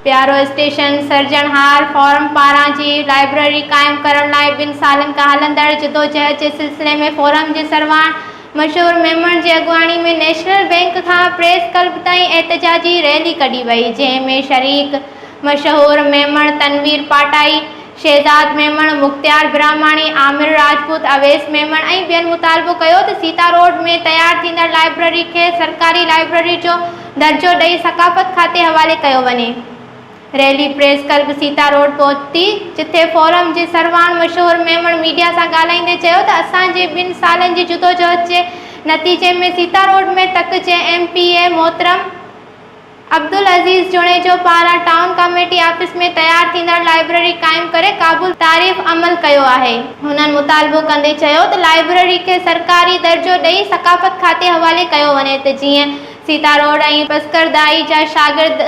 پيارو اسٽيشن سرجڻهار فورم پاران جي لائبريري قائم ڪرڻ لاء ٻن سالن کان هلندڙ جدوجهد جي سلسلي ۾ فورم جي سرواڻ مشهور ميمڻ جي اڳواڻي ۾ نيشنل بئنڪ کان پريس ڪلب تائين احتجاجي ريلي ڪڍي وئي جنهن ۾ شريڪ مشهور ميمڻ تنوير پاٽائي شهزاد ميمڻ، مختيار براهماڻي، عامر راجپوت، اويس ميمڻ ۽ ٻين مطالبو ڪيو ته سيتا روڊ ۾ تيار ٿيندڙ لائبرري کي سرڪاري لائبرري جو درجو ڏئي ثقافت کاتي حوالي ڪيو وڃي. Rally press club Sita road پهتي جتي فورم جي سرواڻ مشهور ميمڻ ميڊيا سان ڳالهائيندي چيو ته اسان جي ٻن سالن جي جدوجهد جي نتيجي ۾ سيتا روڊ ۾ تڪ جي ايم پي اي محترم عبدالعزيز جوڻيجو پاران ٽائون ڪاميٽي آفيس ۾ تيار ٿيندڙ لائبرري قائم ڪري قابل تعريف عمل ڪيو آهي. هنن مطالبو ڪندي چيو ته لائبرري کي سرڪاري درجو ڏئي ثقافت کاتي حوالي ڪيو وڃي ته جيئن سيتا روڊ ۽ پسڪردائي جا شاگرد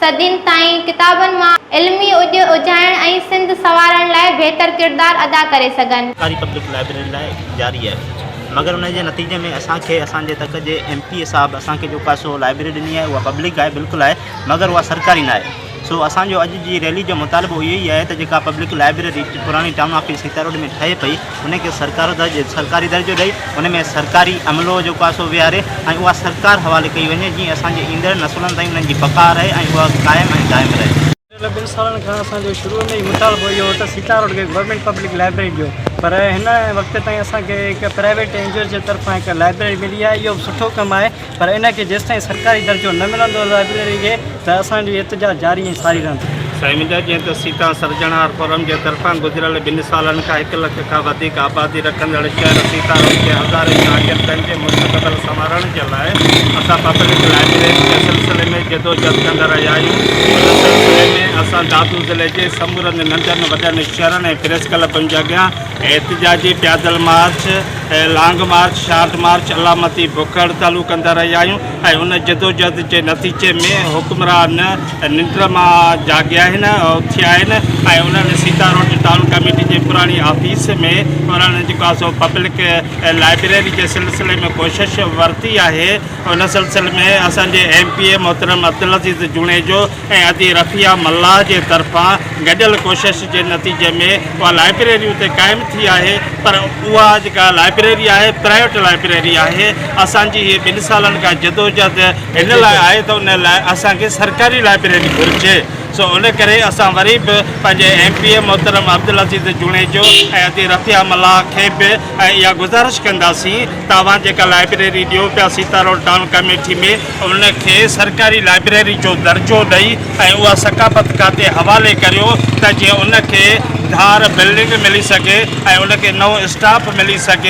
صدين تائين ڪتابن مان علمي اڄ اجهائڻ ۽ سنڌ سنوارڻ لاء بهتر ڪردار ادا ڪري سگهن. سرڪاري پبلڪ لائبرري لاء جاري آهي. مگر ان جي نتيجي ۾ اسان کي اسان جي تڪ جي ايم پي اي صاحب اسان کي جيڪا سو لائبريري ڏني آهي اها پبلڪ آهي بلڪل آهي مگر اها سرڪاري ناهي سو اسان جو اڄ جي ريلي جو مطالبو اهو ئي آهي ته جيڪا پبلڪ لائبريري پراڻي ٽائون آفيس سيتا روڊ ۾ ٺهي پئي ان کي سرڪار درجو سرڪاري درجو ڏئي ان ۾ سرڪاري عملو جيڪو آهي سو ويهاري ۽ اها سرڪار حوالي ڪئي وڃي جيئن اسان جي ايندڙ نسلن تائين انهن جي بقا رهي ۽ اها قائم ۽ دائم رهي. پڇتل ٻن سالن کان اسان جو شروع ۾ ئي مطالبو اهو هو ته سيتا روڊ کي گورنمينٽ پبلڪ لائبريري ڏيو پر هن وقت تائين اسان کي هڪ پرائيويٽ اين جي اوز جي طرفان هڪ لائبريري ملي آهي اهو به سٺو ڪم آهي پر ان کي جيستائين سرڪاري درجو نه ملندو لائبريري کي ته اسان جي احتجاج جاري ۽ ساري رهندو. سائين منهنجا جيئن ته سيتا سرجڻهار فورم جي طرفان گذريل ٻن سالن کان هڪ لک کان وڌيڪ آبادي رکندڙ شهر سيتارم جي هزارين شاگردن جي مستقبل سنوارڻ جي لاء اسان پبلڪ لائبريري جي سلسلي ۾ جدوجھد ڪندا رهيا آهيون ان سلسلي ۾ اسان دادو ضلعي جي سمورن ننڍن وڏن شھرن ۽ پريس ڪلبن جي اڳيان احتجاجي پيادل march long march short march علامتي بک هڙتالون ڪندا رهيا آهيون ۽ ان جدوجهد جي نتيجي ۾ حڪمران ننڊ مان جاڳيا آهن، اٿيا آهن ۽ انهن سيتا روڊ ٽائون ڪميٽي جي پراڻي آفيس ۾ انهن جيڪو آهي سو پبلڪ لائبريري جي سلسلي ۾ ڪوشش ورتي آهي، ان سلسلي ۾ اسان جي ايم پي اي محترم عبدالعزيز جوڻيجو ۽ ادي رفيع ملاح جي طرفان گڏيل ڪوشش جي نتيجي ۾ اها لائبريري اتي قائم ٿي آهي پر اها جيڪا لائبريري آهي پرائيوٽ لائبريري آهي اسان جي هي ٻن سالن کان جدوجهد ان لاء آهي ته ان لاء اسان کي سرڪاري لائبريري گهرجي سو ان ڪري اسان وري به پنهنجي ايم پي اي محترم عبدالعزيز جوڻيجو ۽ ادي رفيع ملاح کي به اها گذارش ڪنداسين ته اوهان جيڪا لائبريري ڏيو پيا سيتا روڊ ٽائون ڪاميٺي ۾ ان کي سرڪاري لائبريري جو درجو ڏئي ۽ اها ثقافت کاتي حوالي ڪريو ته جيئن ان کي ڌار بلڊنگ ملي سگهي ۽ ان کي نئون اسٽاف ملي سگهي.